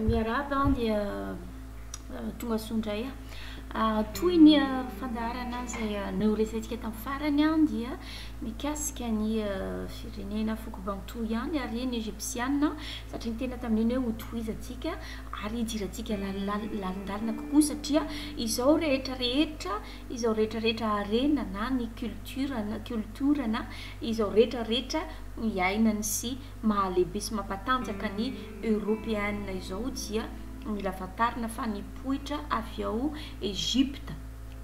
Miarahaba an dia tonga soa indray an. Toy ny fandaharana izay noresahintsika tamin'ny farany an dia mikasika ny firenena foko Bantou ihany ary ny Egyptiana satria ny tena tamin'iny hoe hotohizantsika ary hidirantsika lalindalina kokoa satria izao rehetra rehetra izao rehetra rehetra harena na ny culture na culture na izao rehetra rehetra iainany sy mahalehibe sy mampatanjaka ny Eoropeana izao dia mila fantarina fa nipoitra avy ao Egypta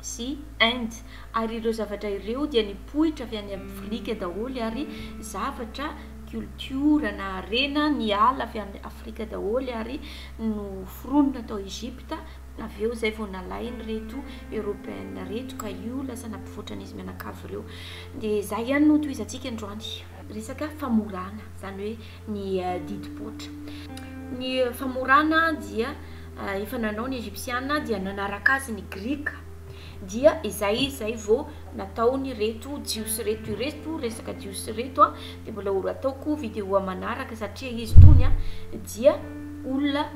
sy Inde ary ireo zavatra ireo dia nipoitra avy any Afrika daholo ary zavatra culture na harena niala avy any Afrika daholo ary noforonina tao Egypta avy eo izay vao nalainy reto Eoropeana reto ka io lasa nampivoatra an'izy mianakavy ireo dia izay ihany no hotohizantsika androany. Resaka famorana, izany hoe ny didim-poitra. Ny famorana dia efa nanao ny Egypsiana dia nanaraka azy ny Grika, dia izay izay vao nataon'ireto Jiosy ireto, ireto resaka Jiosy ireto dia mbola ho ataoko vidéo manaraka satria izy itony dia olona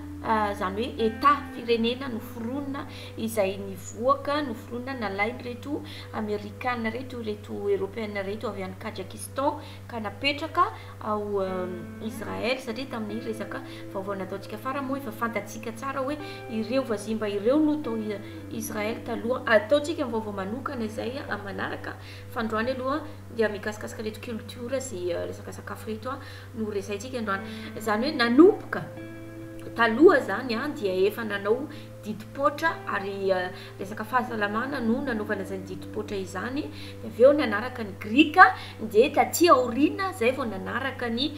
izany hoe Etat, firenena noforonina izay nivoaka, noforonina, nalain'ireto Amerikana ireto, ireto Eropeana ireto avy any Kajakistan ka napetraka ao Israel satria tamin'ny resaka vaovao nataontsika farany moa efa fantatsika tsara hoe ireo vazimba ireo no tao Israel taloha. Ataontsika ny vaovao manokana izay manaraka fa androany aloha dia mikasikasika ireto culture sy resaka sakafo ireto no resahintsika androany. Izany hoe nanomboka taloha izany dia efa nanao didim-poitra ary resaka fahasalamana no nanaovana izany didim-poitra izany dia avy eo nanaraka ny grika dia taty aoriana izay vao nanaraka ny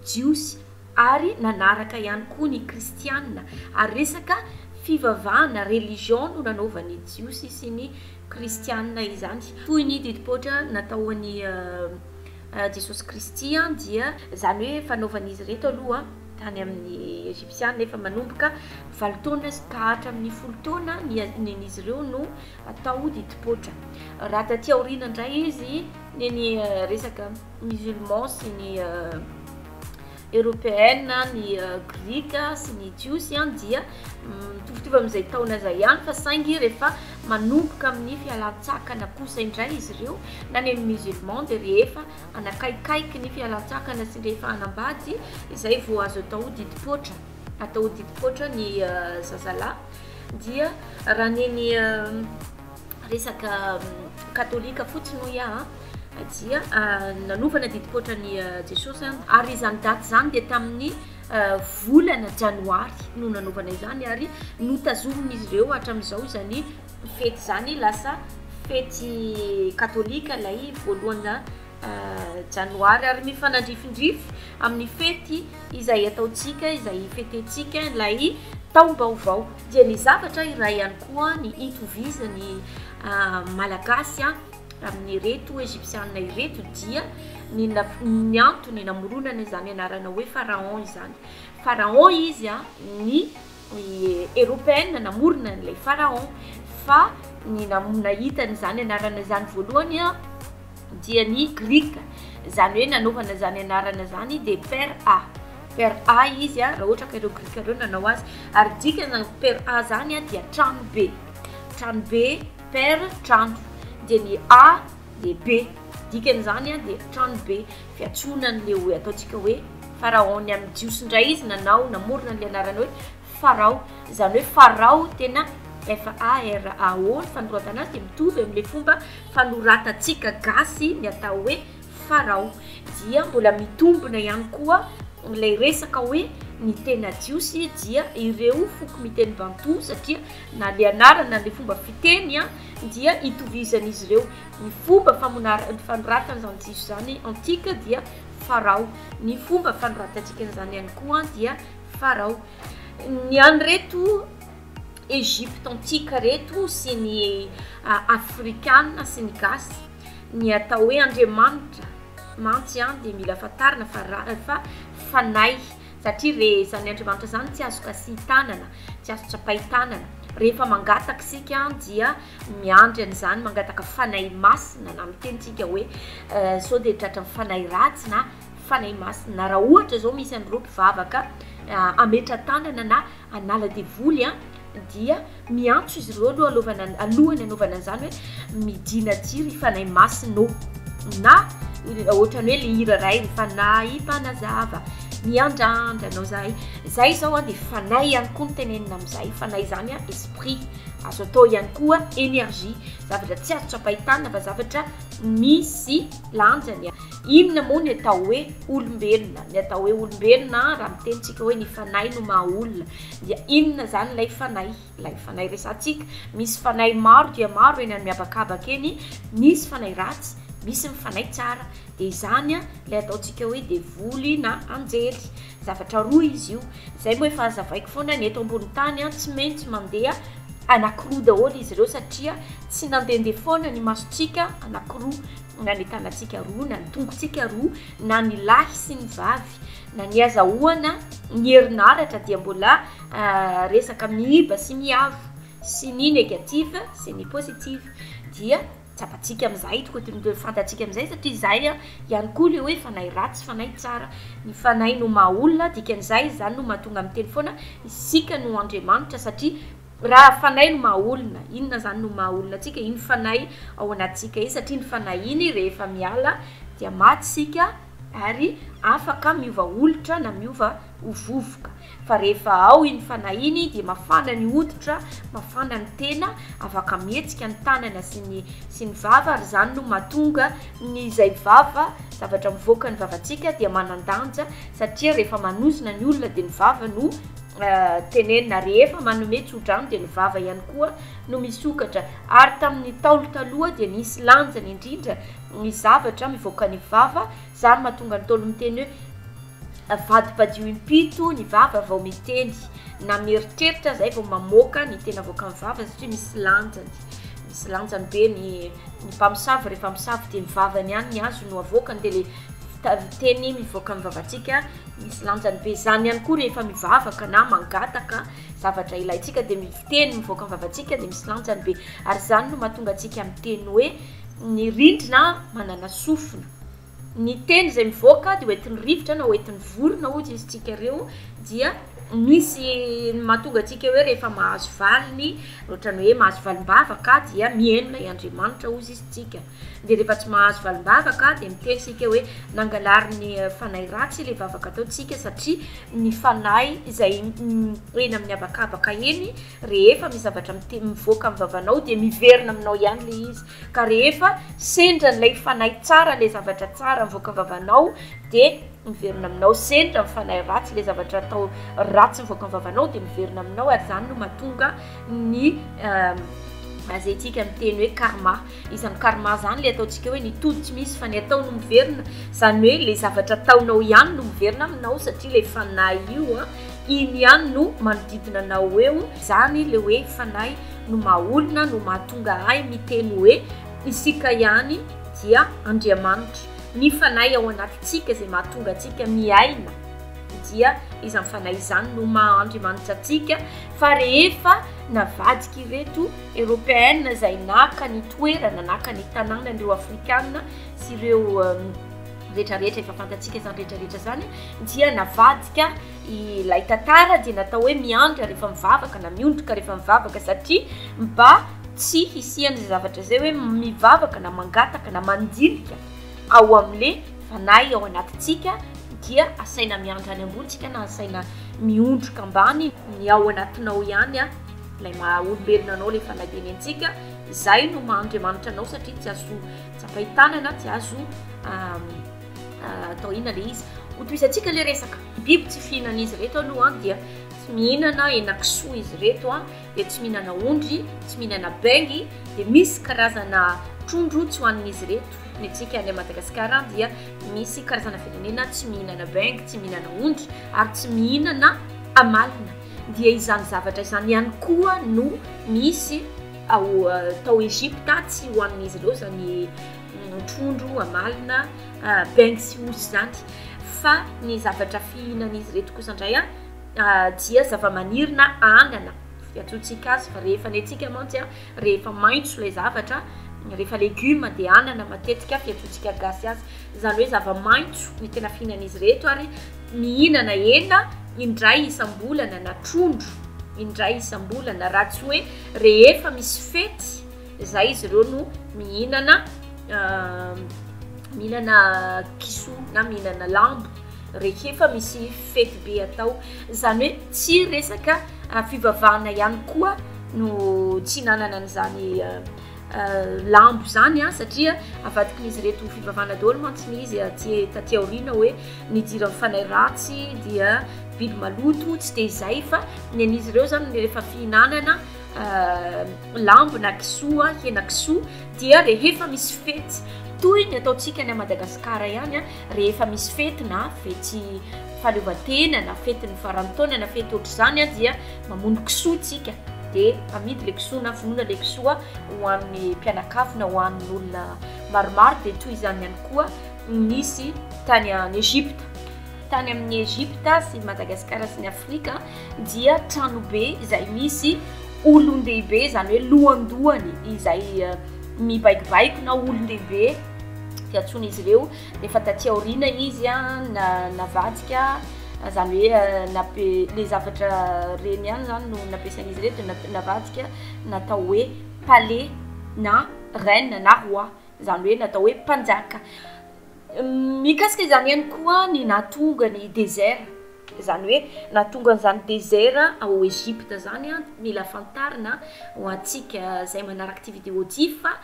jiosy ary nanaraka ihany koa ny kristiana ary resaka fivavahana religion no nanaovan'ny jiosy sy ny kristiana izany toy ny didim-poitra natao an'i Jesosy Kristy dia izany hoe fanaovan'izy ireto aloha tany amin' ny Ejipsiana, efa manomboka valo taona ka hatramin' ny folo taona ny hanin' izy ireo no atao ho didim-poitra. Raha taty aoriana indray izy, ny ny resaka musulman sy ny eorôpeana, ny grika sy ny jiosy dia mitovitovy amin' izay taona izay ihany fa saingy rehefa manomboka amin' ny fialan-tsakana kosa indray izy ireo na ny musulman dia rehefa hanakaikaiky ny fialantsakana sy ny rehefahanambady izay vao azo atao didim-poatra atao didim-poatra ny zazalahy dia raha neny resaka katolika fotsiny hoy aho dia ah, nanovana didim-poatra ny eh, jesosy any ary izany daty izany dia tamin'ny eh, volana janoary no nanovana izany ary notazomin'izy ireo hatramin'izao izany Fety izany lasa fety katolika ilay voalohana janoary ary mifanandrifindrify amin'ny fety izay ataontsika izay ifetentsika ilay taom-baovao dia ny zavatra iray ihany koa ny itovizan'ny malagasy a amin'ny reto egyptianina ireto dia ny ny antony namoronana izany anarana hoe pharaon izany pharaon izy a ny ny Eropeana namorona an'ilay Pharaon fa ny nahita an'izany anarana izany voalohany dia ny Grika, izany hoe nanaovana izany anarana izany dia per a, per a izy raha ohatra ka ireo Grika ireo nanao azy, ary dikana per a izany dia tranobe, tranobe, per, trano, dia ny a dia be, dikany izany dia tranobe. fiantsoana an'ilay hoe ataontsika hoe Farao ny amin'ny Jiosy indray izy nanao namorona an'ilay anarana hoe Farao, izany hoe Farao tena F-A-R-A-O ny fanoratan azy dia mitovy amin'ilay fomba fanoratantsika gasy ny atao hoe Farao, dia mbola mitombina ihany koa ilay resaka hoe ny tena Jiosy dia ireo foko miteny Bantou satria na ilay anarana na ilay fomba fiteny dia itovizan'izy ireo. Ny fomba famonarany fanoratana izany jiso izany antika dia Farao. Ny fomba fanoratantsika an'izany ihany koa dia Farao. Ny an'ireto Egypte antika reto sy ny Afrikana sy ny Gasy, ny atao hoe Andriamanitra mantsy dia mila fantarina fa ra- fa fanahy satria re- izany Andriamanitra izany tsy azo kasihin-tanana, tsy azo tsapahin-tanana. Rehefa mangataka isika dia Miandry an'izany, mangataka Fanahy Masina na miteny tsika hoe sao dia tratran'ny fanahy ratsy na Fanahy Masina na raha ohatra izao misy an'ireo mpivavaka hametra-tanana na hanala devoly an dia miantso izy ireo aloha alovana alohany anaovana an'izany hoe midina aty ry Fanahy Masina ô na ohatrany hoe le hira iray ry Fanahy Mpanazava miandrandra anao zahay, zay izao an dia Fanahy ihany koa no tenenina amin'izay, Fanahy izany an esprit. Azo atao ihany koa energie. Zavatra tsy azo tsapain-tanana fa zavatra misy lanjany. Inona moa ny atao hoe olombelona? Ny atao hoe olombelona raha miteny tsika hoe ny fanahy no maha olona dia inona zany ilay fanahy? Ilay fanahy resatsika. Misy fanahy maro dia maro eny amin'ny habakabaka eny, misy fanahy ratsy, misy ny fanahy tsara. Dia izany ilay ataontsika hoe devoly na anjely. Zavatra roa izy io, izay moa efa hazavaiko foana ny eto ambony tany an, tsy maintsy mandeha anankiroa daholo izy ireo satria tsy nandehandeha foana ny masontsika anankiroa na ny tanantsika roa na ny tongotsika roa na ny lahy sy ny vavy na ny hazahoana ny herinaratra dia mbola resaka miiba sy miavo sy ny negative sy ny positive dia Tsapantsika amin'izay, tokony fantatsika amin'izay satria izay ihany koa ilay hoe fanahy ratsy, fanahy tsara. Ny fanahy no maha olona, dikan'izay izany no mahatonga miteny foana isika no Andriamanitra satria raha fanahy no maha olona, inona izany no maha olona antsika? Iny fanahy ao anatintsika iny satria iny fanahy iny rehefa miala dia maty isika ary afaka miova olitra na miova ho vovoka. Fa rehefa ao iny fanahy iny dia mafana ny hoditra, mafana ny tena, afaka mihetsika ny tanana sy ny sy ny vava ary izany no mahatonga ny izay vava, zavatra mivoaka ny vavantsika dia manan-danja satria rehefa manozona ny olona dia ny vava no tenenina, rehefa manome tsodrano dia ny vava ihany koa no misokatra ary tamin'ny ntaolo taloha dia nisy lanjany indrindra ny zavatra mivoaka ny vava Zany mahatonga ny Ntaolo miteny hoe, Avadibadio impito ny vava vao miteny, na mieritreritra zay vao mamoaka ny tena avoakan'ny vavany satria misy lanjany, misy lanjany be ny ny mpamosavy rehefa misavy de ny vavany ihany ny azo no avoakany de le ta- teny mivoaka amin'ny vavantsika misy lanjany be, zany ihany koa rehefa mivavaka na mangataka zavatra ilaintsika de ny teny mivoaka amin'ny vavantsika de misy lanjany be ary zany no mahatonga antsika miteny hoe ny rindrina manana sofina. Ny teny izay mivoaka dia ho entin'ny rivotra na ho entin'ny vorona hozy izy tsika reo dia misy ny mahatonga antsika hoe rehefa mahazo valiny otrany hoe mahazo valimbava ka dia mihenona i Andriamanitra hozy izy tsika de rehefa tsy mahazo valimbava ka de miteny isika hoe nangalariny fanahy ratsy ilay vavaka ataontsika satria ny fanahy izay eny amin'ny habakabaka eny rehefa misy zavatra mivoaka amin'ny vavanao dia miverina aminao ihany ilay izy Ka rehefa sendra ilay fanahy tsara ilay zavatra tsara mivoaka am-vavanao dia miverina aminao, sendra ny fanahy ratsy ilay zavatra atao ratsy mivoaka am-vavanao dia miverina aminao ary izany no mahatonga ny izay tsika miteny hoe karma izany karma izany ilay ataontsika hoe ny tody tsy misy fa ny atao no miverina izany hoe ilay zavatra ataonao ihany no miverina aminao satria ilay fanahy io a Ino ihany no manodidina anao eo zany le hoe fanahy no maha olona no mahatonga ahy miteny hoe isika ihany dia Andriamanitra. Ny fanahy ao anatintsika izay mahatonga antsika miaina dia izany fanahy izany no maha Andriamanitra antsika fa rehefa navadika ireto Européenne izay naka ny toerana naka ny tanànan'ireo Afrikana sy ireo rehetra rehetra efa fantatsika izany rehetra rehetra izany dia navadika ilay tantara dia natao hoe miandry rehefa mivavaka na miondrika rehefa mivavaka satria mba tsy hisian'izay zavatra izay hoe mivavaka na mangataka na mandinika ao amin'le fanahy ao anatintsika dia asaina miandry any ambontsika na asaina miondrika ambany ny ao anatinao ihany a ilay maha olombelona anao ilay fanahy tenentsika izay no maha andriamanitra anao satria tsy azo Tsapay tanana tsy azo atao inona le izy. Ho tohizantsika le resaka. Biby tsy fihinan'izy reto aloha dia tsy mihinana henakisoa izy reto a dia tsy mihinana ondry tsy mihinana bengy dia misy karazana trondro tsy hohanin'izy reto ny antsika any madagasikara dia misy karazana firenena tsy mihinana bengy tsy mihinana ondry ary tsy mihinana amalina dia izany zavatra izany ihany koa no misy Ao tao Egypta tsy ho an'izy ireo zany trondro, amalona, bengy sy osy zany. Fa ny zavatra fihinan'izy ireto kosa indray a dia zava-maniry na anana fiantsoantsika azy fa rehefa ny antsika mantsy a rehefa maitso ilay zavatra rehefa legioma dia anana matetika fiantsoantsika gasy azy zany hoe zava-maitso ny tena fihinan'izy ireto ary mihinana hena indray isam-bolana na trondro indray isam-bolana raha tsy hoe Rehefa misy fety izay izy ireo no mihinana mihinana kisoa na mihinana lambo rehefa misy fety be atao. Izany hoe tsy resaka fivavahana ihany koa no tsy hinanana an'izany lambo izany an satria avadikin'izy ireto fivavahana daholo mantsy ny izy aty taty aoriana hoe ny jiran'ny fanahy ratsy dia biby maloto tsy dia izay fa ny an'izy ireo izany ny rehefa fihinanana euh, lambo na kisoa hena kisoa dia rehefa misy fety toy ny ataontsika any a madagasikara ihany a rehefa misy fety na fety fahaleovantena na fety ny farantaona na fety ohatr'izany a dia mamono kisoa tsika dia amidy le kisoa na vonona le kisoa ho an'ny mpianakavina ho an'ny olona maromaro dia toy izany ihany koa nisy tany any egypta tany amin'ny egypta sy madagasikara sy ny afrika dia tranobe izay misy olon-dehibe izany hoe lohandohany izay eh, mibaikobaiko na olon-dehibe fiantsoan'izy ireo efa taty aoriana izy a na navadika zany hoe nape le zavatra reny ihany zany no nampiasain'izy reto na navadika natao hoe palais na reine na roi zany hoe natao hoe mpanjaka mikasika izany ihany koa ny nahatonga ny désert Izany hoe nahatonga an'izany dezera ao Egypta izany an, mila fantarina ho antsika izay manaraka ity vidéo ity fa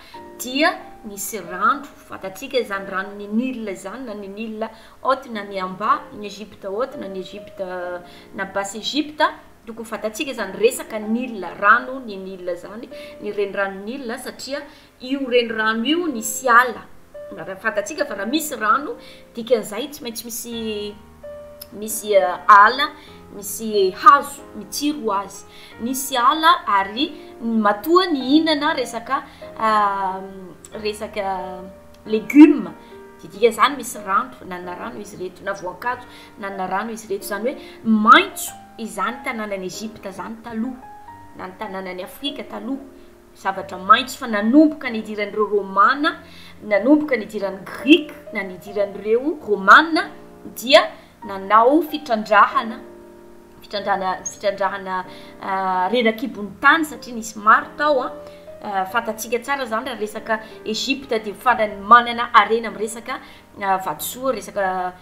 dia nisy rano, fantatsika izany ranon'ny Nil izany na ny Nil haute na ny Amba, ny Egypta haute na ny Egypta na Basse Egypta, tokony fantatsika izany resaka Nil, rano ny Nil izany, ny reniranon'i Nil satria Io renirano io nisy ala, raha fantatsika fa raha misy rano dikan'izay tsy maintsy misy misy ala, misy hazo mitsiry ho azy, nisy ala ary matoa nihinana resaka resaka legioma dia dikan'izany misy rano, nanana rano izy ireto na voankazo nanana rano izy ireto, izany hoe maitso izany tanànan'i Egypta izany taloha na ny tanànan'i Afrika taloha. Zavatra maitso fa nanomboka nidiran'ireo Romana, nanomboka nidiran'ny Grika na nidiran'ireo Romana dia nanao fitrandrahana, fitrandrahana fitrandrahana rerak'ibon'ny tany satria nisy maro tao an, fantatsika tsara izany raha resaka Egypte dia farany manana harena amin'ny resaka vatosoa, resaka.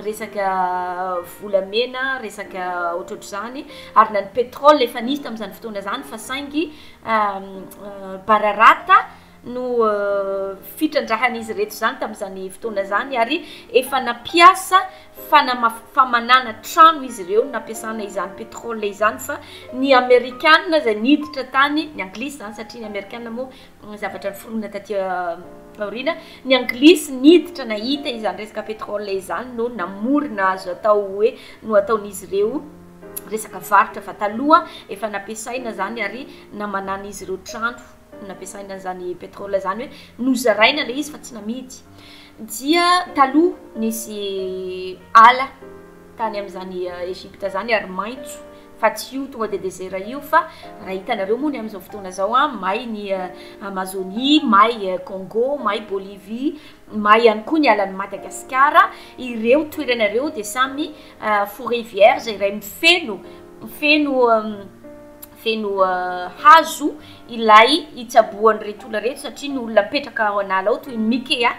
resaka volamena, resaka ohatrohatr'izany, ary na ny pétrole efa nisy tamin'izany fotoana izany fa saingy bararata no fitrandrahan'izy ireto izany tamin'izany fotoana izany ary efa nampiasa fanamaf- famanana trano izy ireo nampiasana izany pétrole izany fa ny amerikana izay niditra tany ny anglisy izany satria ny amerikana moa ny zavatra niforonina taty aoriana, ny anglisy niditra nahita izany resaka pétrole izany no namorona azo atao hoe no ataon'izy ireo resaka varotra fa taloha efa nampiasaina izany ary namanan'izy ireo trano nampiasaina an'izany pétrole izany hoe nozaraina ilay izy fa tsy namidy dia taloha nisy ala tany amin'izany Egypta izany ary maitso fa tsy io tonga dia desert io fa raha hitanareo moa ny amin'izao fotoana izao a may ny Amazonie may Congo may Bolivie may ihany koa ny alan'i Madagasikara ireo toerana ireo dia samy foret vierge iray mifeno feno feno hazo ilay hitsaboan'ireto olona ireto satria ny olona mipetraka ao an'ala ao toy ny mikea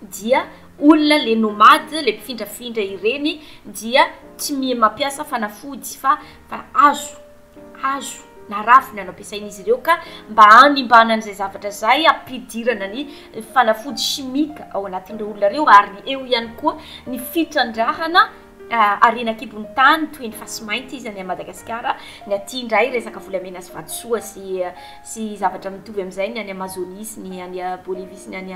dia olona le nomade le mpifindrafindra ireny dia tsy mi mampiasa fanafody fa fa hazo hazo na ravina no ampiasain'izy ireo ka mba hanimbana an'izay zavatra zay hampidirana ny fanafody chimique ao anatin'ireo olona ireo ary eo ihany koa ny fitrandrahana harena an-kibon'ny tany toy ny fasimainty izy any an'i madagasikara ny aty indray resaka volamena sy vatosoa sy sy zavatra mitovy amin'izay ny any amazonie sy ny any bolivie sy ny any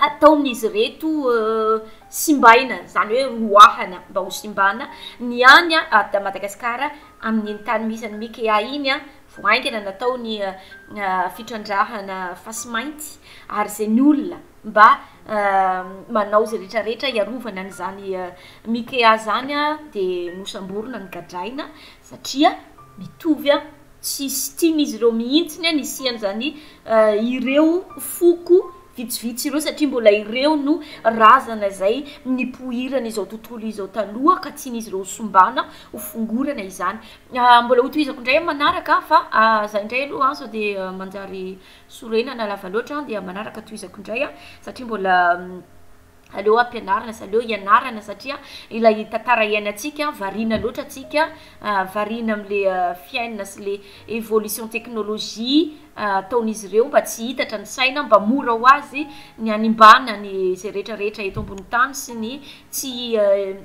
ataon'izy ireto simbaina, izany hoe roahana mba ho simbana, ny any Ada Madagasikara amin'iny tany misy an'i Mikea iny an, vao haingana natao ny fitrandrahana fasimainty ary izay ny olona mba manao izay rehetra rehetra hiarovana an'izany Mikea izany an dia nosamborina, nogadraina satria mitovy Tsisy tian'izy ireo mihitsy ny hanisian'izany ireo foko vitsivitsy ireo satria mbola ireo no razana izay nipoirana izao tontolo izao taloha ka tian'izy ireo hosimbana, hofongorana izany. Mbola hotohizako indray amin'ny manaraka fa zay indray aloha sao dia manjary sorenana lava loatra dia amin'ny manaraka tohizako indray satria mbola Aleo ampianarina sy aleo ianarana satria ilay tantara iainantsika variana loatra antsika, variana amin'le fiainana sy le evolution teknolojia ataon'izy ireo mba tsy hitatra ny saina mba mora ho azy ny hanimbàna ny izay rehetra rehetra eto ambony tany sy ny tsy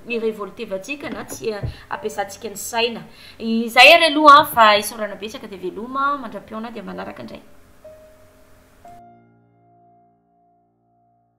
hi-revoltevantsika na tsy hampiasantsika ny saina. Izay ary aloha an fa isaorana betsaka dia veloma mandra-pihaona dia manaraka indray.